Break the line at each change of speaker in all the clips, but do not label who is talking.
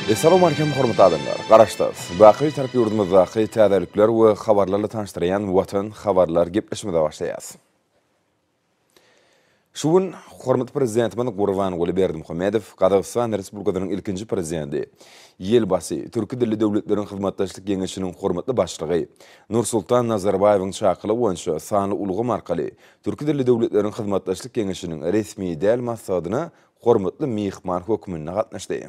Essalamu aleykum hormatly adamlar! Garaşsyz, baky tarap ýurdumyzdaky täzelikler we habarlarla tanyşdyrýan Watan habarlar gepleşimize başlaýas. Şu gün hormatly Prezidentimiz Gurbanguly Berdimuhamedow Gazagystan Respublikasynyň ilkinji Prezidenti, Ýelbasy, Türki dilli döwletleriň hyzmatdaşlyk geňeşiniň hormatly Başlygy Nursultan Nazarbaýewiň çakylygy boýunça sanly ulgam arkaly Türki dilli döwletleriň hyzmatdaşlyk geňeşiniň resmi däl maslahatyna hormatly myhman hökmünde gatnaşdy.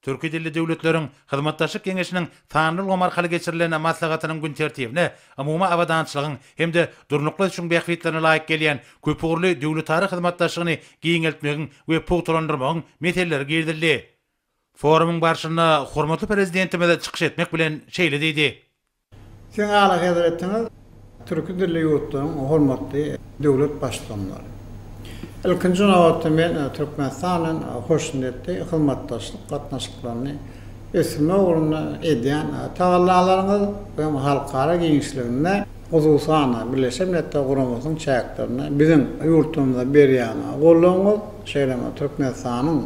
Türki dilli döwletleriň Hyzmatdaşlyk geňeşiniň sanly ulgam arkaly geçirilen maslahatynyň gün tertibine umumy abadançylygyň hem-de durnukly ösüşiň bähbitlerine laýyk gelýän köpugurly döwletara hyzmatdaşlygyny giňeltmegiň we pugtalandyrmagyň meseleleri girizildi. Forumyň barşynda hormatly Prezidentimiz çykyş etmek bilen şeýle diýdi. Siziň
Alyhezretiňiz türki dilli ýurtlaryň hormatly döwlet baştutanlary. Ilkinji nobatda men Türkmenistan bilen hoşniýetli hyzmatdaşlyk gatnaşyklaryny ösdürmek ugrunda edýän tagallalaryňyz we halkara giňişliginde, hususan-da, Birleşen Milletler Guramasynyň çäklerinde biziň ýurdumyza berýän goldawyňyz, şeýle hem Türkmenistanyň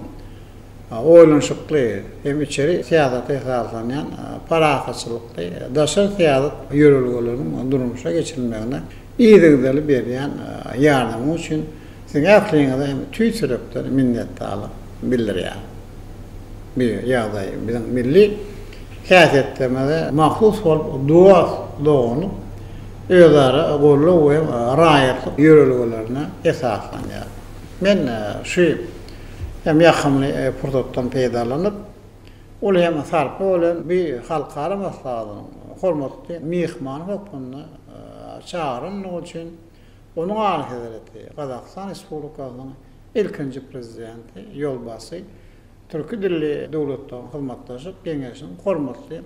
oýlanyşykly hem içeri syýasata esaslanýan parahatçylykly daşary syýasat ýörelgeleriniň durmuşa geçirilmegine yzygiderli berýän ýardamyňyz üçin Siziň ähliňize hem tüýs ýürekden minnetdarlyk bildirýärin. Bu ýagdaý biziň milli häsiýetlerimize mahsus bolup, dost, doganlyk, özara goldaw we raýatlyk ýörelgelerine esaslanýar. Men şu hem ýakymly pursatdan peýdalanyp, uly hem sarply bolan bu halkara maslahatynyň hormatly myhmany hökmünde çagyrandygy üçin Onuň Alyhezreti Gazagystan Respublikasynyň ilkinji Prezidenti ýolbaşçy Türki dilli döwletleriň hyzmatdaşlyk geňeşiniň hormatly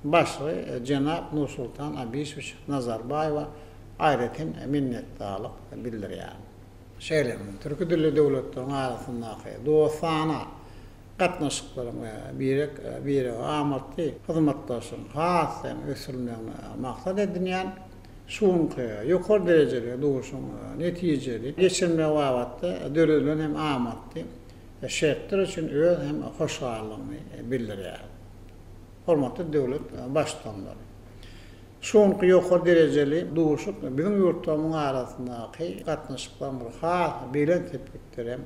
başlygy jenap Nursultan Abişowiç Nazarbaýewa aýratyn minnetdarlyk bildirýärin. şeýle hem türki dilli döwletleriň arasyndaky dostana gatnaşyklaryň we birek birege amatly hyzmatdaşlygyň has hem ösdürilmegini maksat edinýän şu günki ýokary derejeli duşuşygyň netijeli geçirilmegi babatda döredilen hem amatly şertler üçin öz hem hoşallygyny bildirýär. Hormatly döwlet Baştutanlary! Şu günki ýokary derejeli duşuşyk biziň ýurtlarymyzyň arasyndaky gatnaşyklaryň bir has belent sepgitlere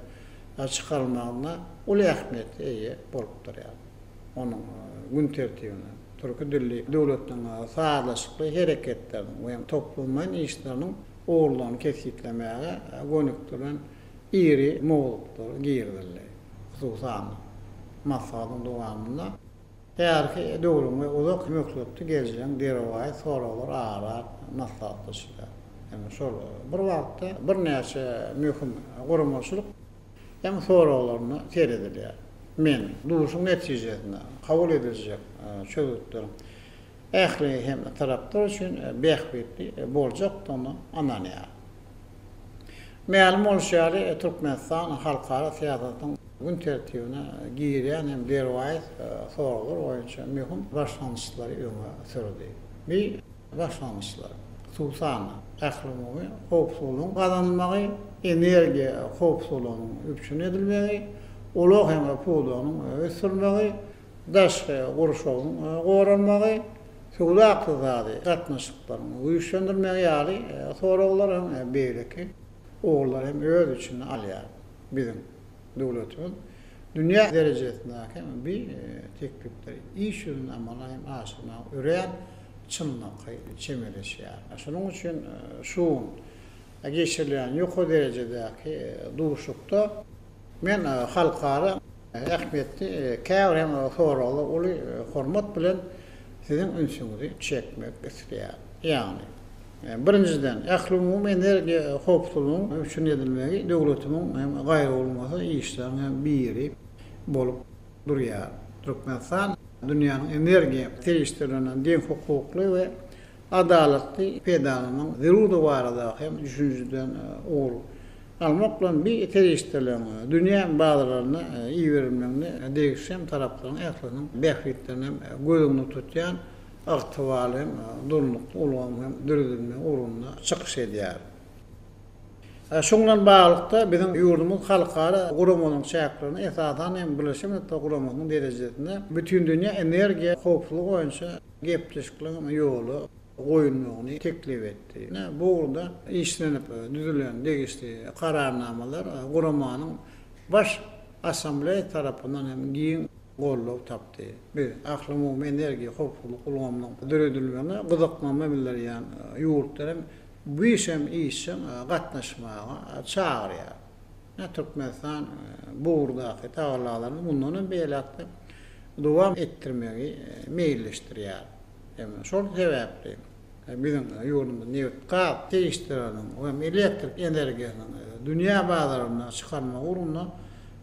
çykarylmagynda uly ähmiýete eýe bolup durýar. Onuň gün tertibine türki dilli döwletleriň sazlaşykly hereketleriniň we toplumlaýyn işleriniň ugurlaryny kesgitlemäge gönükdirilen iri mowzuklar girizildi. Hususan, maslahatyň dowamynda, Bärki döwrüň we uzak möhletli geljegin birowaýy soraglar ara-at maslahatlaşylýar. Ýöne şol bir wagtda birnäçe möhüm guramaçylyk hem soraglaryna seredilýär. Men duşuň netijesinde kabul ediljek çözgütleriň ähli hem taraplar üçin bähbitli boljakdygyna ynanýaryn. Mälim bolşy ýaly, Türkmenistan halkara syýasatyň gün tertibine girýän hem derwaýys soraglar boýunça möhüm başlangyçlary öňe sürdi. Bu başlangyçlar, hususan-da, ählumumy howpsuzlygyň gazanylmagy, energiýa howpsuzlygynyň üpjün edilmegi, ulag hem pudagynyň ösdürilmegi, daşky gurşawyň goralmagy, söwda-ykdysady gatnaşyklaryň güýçlendirmegi ýaly soraglar hem beýleki ugurlary hem öz içine alýar. Biziň döwletimiz dünýä derejesindäki hem bi teklipleri iş ýüzünde amala hem aşyrmaga örän çynlakaý çemeleşýär. Şonuň üçin şu gün geçirilýän ýokary derejedäki duşuşykda men halkara ähmiýetli käbir hem soraglara uly hormat bilen siziň ünsüňizi çekmek isleýärin. Ýagny, birinjiden, ählumumy energiýa howpsuzlygynyň üpjün edilmegi döwletimiň hem gaýrabolmasa işleriň hem biri bolup durýar. Türkmenistan dünýäniň energiýa serişdeleriniň deňhukukly we adalatly peýdalanyň zerurdygy barada hem düşünjeden ugur almak bilen bi serişdeleriň dünýä bazarlaryna iberilmeginde degişli hem taraplaryň ählisiniň bähbitlerini hem göz öňünde tutýan ygtybarly hem durnukly ulgamyň hem döredilmegi ugrunda çykyş edýär. Şuň bilen baglylykda, biziň ýurdumyz halkara guramanyň çäklerinde, esasan hem, Birleşen Milletler Guramasynyň derejesinde Bütindünýä energiýa howpsuzlygy boýunça, gepleşikligiň ýola goýulmagyny teklip etdi. Bu ugurda işlenip düzülen degişli Kararnamalar Guramanyň Baş Assambleýasy tarapyndan hem giň goldaw tapdy. Biz Ählumumy energiýa howpsuzlyk ulgamynyň döredilmegine gyzyklanma bildirýän ýurtlary hem bu işe hem işjeň gatnaşmaga çagyrýarys. Ine, Türkmenistan bu ugurdaky tagallalaryny mundan hem beýläk-de dowam etdirmegi meýilleşdirýär. Şol sebäpli biziň ýurdumyz nebit-gaz serişdeleriniň hem elektrik energiýasynyň dünýä bazaryna çykarmak ugrunda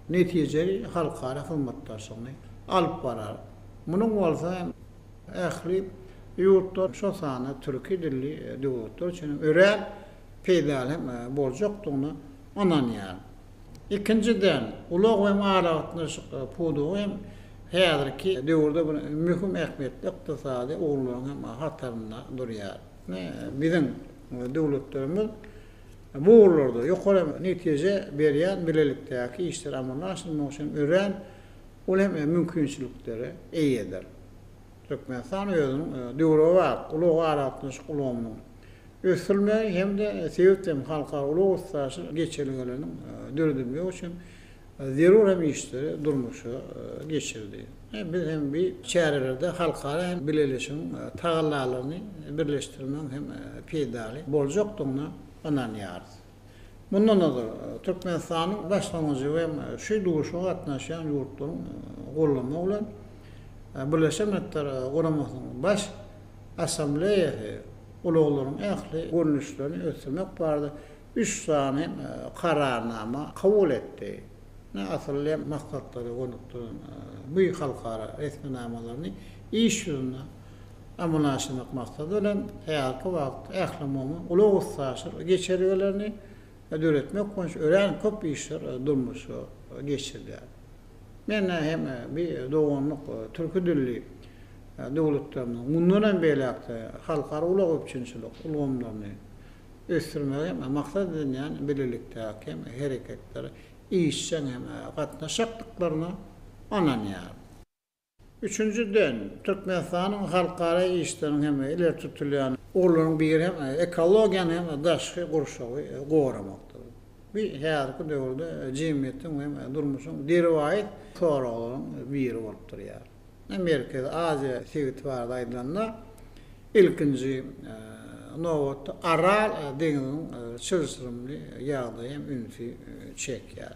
netijeli halkara hyzmatdaşlygyny alyp barar. Munuň bolsa ähli ýurtlar, şol sanda türki dilli döwletler üçin hem örän peýdaly hem boljakdygyna ynanýaryn. Ikinjiden, ulag hem aragatnaşyk pudagy hem häzirki döwürde bir möhüm ähmiýetli ykdysady ugurlaryň hem hatarynda durýar. Biziň döwletlerimiz bu ugurlarda ýokary netije berýän bilelikdäki işleri amala aşyrmak üçin örän uly hem mümkinçiliklere eýedir. Türkmenistan özüniň döwrebap ulag-aragatnaşyk ulgamynyň, ösdürilmegi hem-de sebit hem halkara ulag üstaşyr geçelgeleriniň döredilmegi üçin zerur hem işleri durmuşa geçirildi. Biz hem bi çärelerde halkara hem bileleşigiň tagallalaryny birleşdirmegiň hem peýdaly boljakdygyna ynanýarys. Mundan ozal, Türkmenistanyň Başlangyjy we şu duşuşyga gatnaşýan ýurtlaryň goldamagy bilen, Birleşen Milletler Guramasynyň Baş Assambleýasy ulaglaryň ähli görnüşlerini ösdürmek barada üç sany Kararnama kabul etdi. Asylly hem maksatlara gönükdirilen bu halkara resminamalaryny iş ýüzünde amala aşyrmak maksady bilen, häzirki wagtda ählumumy ulag üstaşyr geçelgelerini döretmek boýunça örän köp işler durmuşa geçirilýär. Men hem bi doganlyk türki dilli döwletleriniň mundan hem beýläk-de halkara ulag üpjünçilik ulgamlaryny ösdürmegi maksat edinýän bilelikdäki hereketlere işjeň gatnaşjakdyklaryna ynanýaryn. Üçünjiden, Türkmenistanyň halkara işleriň hem-de ileri tutulýan ugurlarynyň biri hem ekologiýany hem-de daşky gurşawy goramakdyr. Bu häzirki döwürde jemgyýetiň we durmuşyň derwaýys soraglaryň biri bolup durýar. Merkezi Aziýa sebiti barada aýdylanda, ilkinji nobatda Aral deňziniň çylşyrymly ýagdaýy hem ünsi çekýär.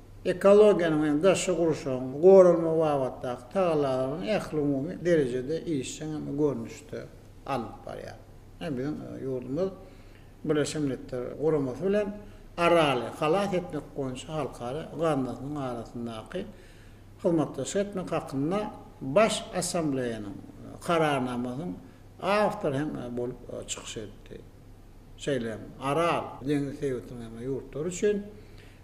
ekologiýanyň hem daşky gurşawyň goralmagy babatdaky tagallalaryny ählumumy derejede işjeň hem görnüşde alnyp barýar. Ine, biziň ýurdumyz Birleşen Milletler Guramasy bilen Araly halas etmek boýunça halkara gaznasynyň arasyndaky hyzmatdaşlyk etmek hakynda Baş Assambleýanyň Kararnamasynyň awtory hem bolup çykyş etdi. Şeýle hem Aral deňzi sebitiniň hem ýurtlary üçin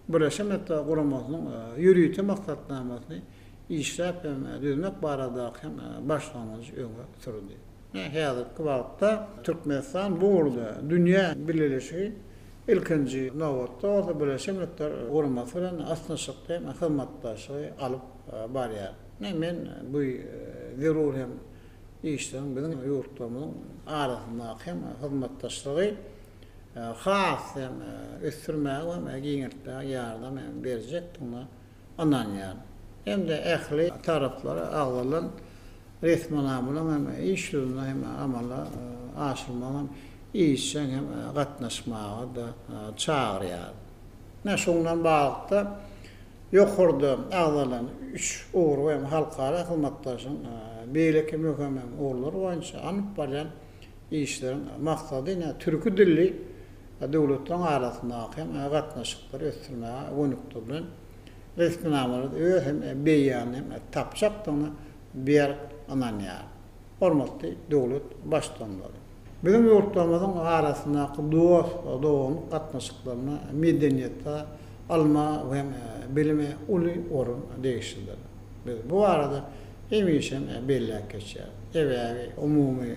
Birleşen Milletler Guramasynyň ýörite maksatnamasyny işläp hem düzmek baradaky hem başlangyjy öňe sürdi. Häzirki wagtda Türkmenistan bu ugurda dünýä bileleşigi, ilkinji nobatda bolsa Birleşen Milletler Guramasy bilen ysnyşykly hem hyzmatdaşlygy alyp barýar. Men bu zerur hem işleriň biziň ýurtlarymyzyň arasyndaky hem hyzmatdaşlygy, has hem ösdürmäge we ony giňeltmäge ýardam berjekdigine ynanýaryn hem-de ähli taraplara agzalan resminamalaryň hem iş ýüzünde hem amala aşyrmagyna işjeň hem gatnaşmaga-da çagyrýaryn. Ine, şundan baglylykda, ýokarda agzalan üç ugur hem halkara hyzmatdaşlygyň beýleki möhüm hem ugurlary boýunça alnyp barýan Işleriň maksady ine türki dilli döwletleriň arasyndaky hem gatnaşyklary ösdürmäge gönükdirilen resminamalary öz hem beýanyny hem tapjakdygyna berk ynanýaryn. Hormatly döwlet Baştutanlary! Biziň ýurtlarymyzyň arasyndaky dost-doganlyk gatnaşyklarynda medeniýete, ylma we bilime uly orun degişlidir. Biz bu barada hemişem belläp geçýäris. Sebäbi umumy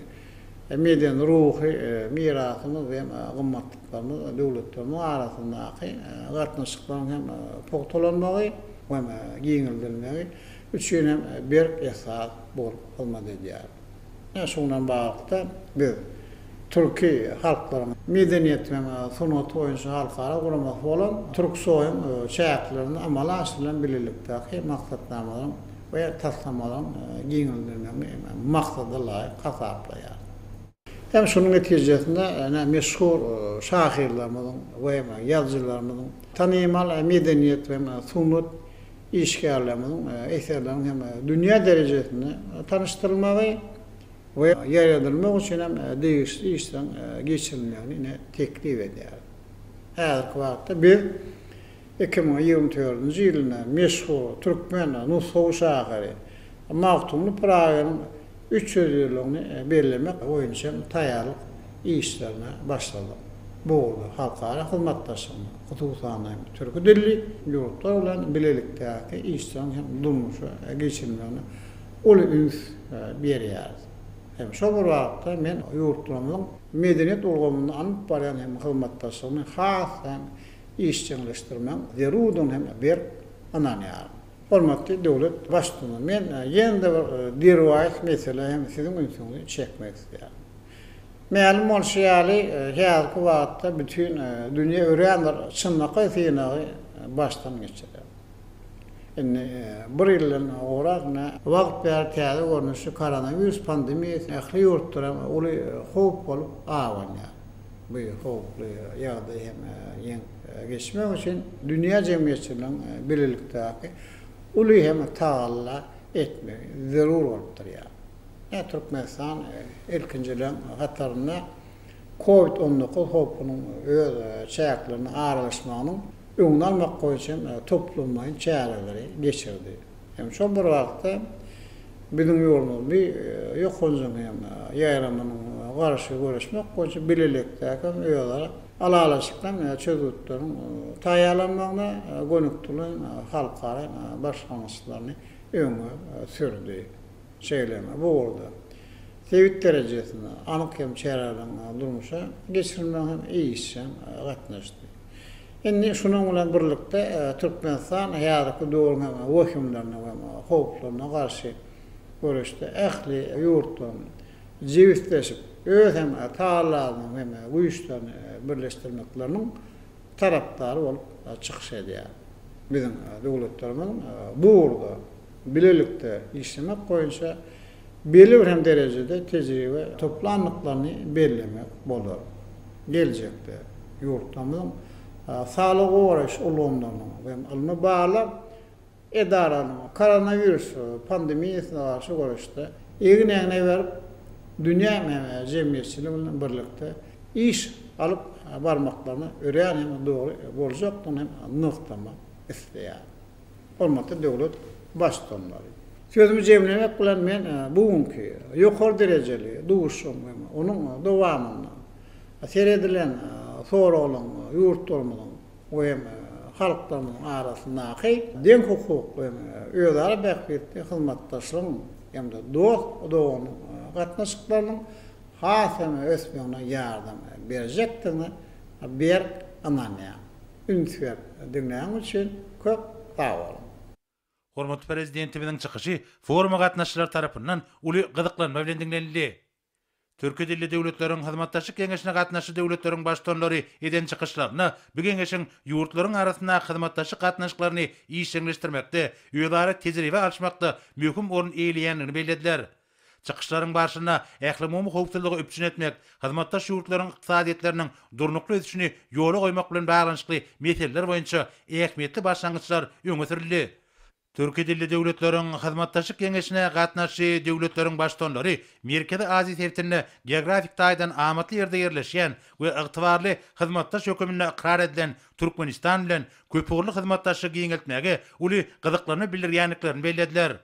medeni-ruhy mirasymyz hem gymmatlyklarymyz döwletlerimiz arasyndaky gatnaşyklaryň hem pugtalanmagy hem giňeldilmegi üçin hem berk esas bolup hyzmat edýär. Ine şu bilen baglylykda biz türki halklaryň medeniýetiniň sungaty boýunça halkara guramasy bolan Türksoýuň çäklerinde amala aşyrylan bilelikdäki maksatnamalaryň we taslamalaryň giňeldirilmegini maksada laýyk hasaplaýarys. Hem şunuň netijesinde ine meşhur şahyrlarymyzyň we ýazyjylarymyzyň, tanymal medeniýet we sungat işgärlerimiziň eserleriniň hem dünýä derejesinde tanyşdyrylmagy we ýaýradylmagy üçin hem degişli işleriň geçirilmegini ine teklip edýäris. Häzirki wagtda biz iki müň ýigrimi dördünji ýylynda meşhur türkmen nusgawy şahyry Magtymguly Pyragynyň Üç ýüz ýyllygyny bellemek boýunça taýýarlyk işlerine başladyk. Bu ugurda halkara hyzmatdaşlygyny, hususan-da, türki dilli ýurtlar bilen bilelikdäki işleriň hem durmuşa geçirilmegine uly üns berýäris. Hem şol bir wagtda men ýurtlarymyzyň medeniýet ulgamynda alnyp barýan hem hyzmatdaşlygyny has hem işjeňleşdirmegiň zerurdygyna hem berk ynanýaryn. Hormatly döwlet Baştutanymyz, men ýene-de bir derwaýys meselä hem Siziň ünsüňizi çekmek isleýärin. Mälim bolşy ýaly, häzirki wagtda bütin dünýä örän bir çynlakaý synagy başdan geçirýär. Indi bir ýyldan gowrak wagt bäri täze görnüşli koronawirus pandemiýasy ähli ýurtlara uly howp bolup abanýar. Bu howply ýagdaý hem ýeňip. geçmek üçin dünýä jemgyýetçiliginiň bilelikdäki uly hem tagalla etmegi zerur bolup durýar. Ine, Türkmenistan ilkinjileriň hatarynda covid on dokuz howpunyň öz çäklerine aralaşmagynyň öňüni almak boýunça hem toplumlaýyn çäreleri geçirdi. Hem şol bir wagtda, biziň ýurdumyz bi ýokanjyň hem ýaýramynyň garşy göreşmek boýunça bilelikdäki hem özara Ylalaşyklaryň çözgütleriň taýýarlanmagyna gönükdirilen halkara başlangyçlaryny öňe sürdi. Şeýle hem bu ugurda sebit derejesinde anyk hem çäreleriň durmuşa geçirilmegine hem işjeň gatnaşdy. Indi şunuň bilen birlikde Türkmenistan häzirki döwrüň hem wehimlerine we howplaryna garşy göreşde ähli ýurtlaryň jebisleşip, öz hem Taalanyň hem güýçlerini birleşdirmekleriniň tarapdary bolup çykyş edýär. Biziň döwletlerimiziň bu ugurda bilelikde işlemek boýunça belli bir hem derejede tejribe toplandyklaryny bellemek bolar. Geljekde ýurtlarymyzyň saglygy goraýyş ulgamlarynyň hem ylmy-barlag, Edaranyň koronawirus pandemiýasyna garşy göreşde egin-egne berip, dünýä jemgyýetçiligi bilen birlikde iş alyp barmaklaryna örän hem dogry boljakdygyny hem nygtamak isleýärin. Hormatly döwlet Baştutanlary! Sözümi jemlemek bilen, men bu günki ýokary derejeli duşuşygyň hem onuň dowamynda seredilen soraglaryň ýurtlarymyzyň we halklarynyň arasyndaky deňhukukly, özara bähbitli hyzmatdaşlygyň hem-de dost-doganlyk gatnaşyklarynyň has hem ösmegine ýardam berjekdigine berk ynanýan. Üns berip diňläniň üçin köp sag boluň! Hormatly
Prezidentimiziň çykyşy foruma gatnaşyjylar tarapyndan uly gyzyklanma bilen diňlenildi. Türki dilli döwletleriň hyzmatdaşlyk geňeşine gatnaşyjy döwletleriň Baştutanlary eden çykyşlarynda bu geňeşiň ýurtlaryň arasyndaky hyzmatdaşlyk gatnaşyklaryny işjeňleşdirmekde, özara tejribe alyşmakda möhüm orun eýeleýändigini bellediler. Çykyşlaryň barşynda ählumumy howpsuzlygy üpjün etmek, hyzmatdaş ýurtlaryň ykdysadyýetleriniň durnukly ösüşini ýola goýmak bilen baglanyşykly meseleler boýunça ähmiýetli başlangyçlar öňe sürüldi. Türki dilli döwletleriň hyzmatdaşlyk geňeşine gatnaşyjy döwletleriň Baştutanlary Merkezi Aziýa sebitinde geografik taýdan amatly ýerde ýerleşýän we ygtybarly hyzmatdaş höküminde ykrar edilen Türkmenistan bilen köpugurly hyzmatdaşlygy giňeltmäge uly gyzyklanma bildirýändiklerini bellediler.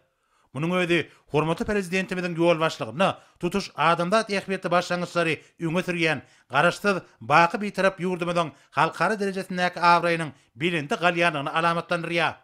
Munuň özi hormatly Prezidentimiziň ýolbaşçylygynda tutuş adamzat ähmiýetli başlangyçlary öňe sürýän Garaşsyz, baky Bitarap ýurdumyzyň halkara derejesindäki abraýynyň belende galýandygyny alamatlandyrýar.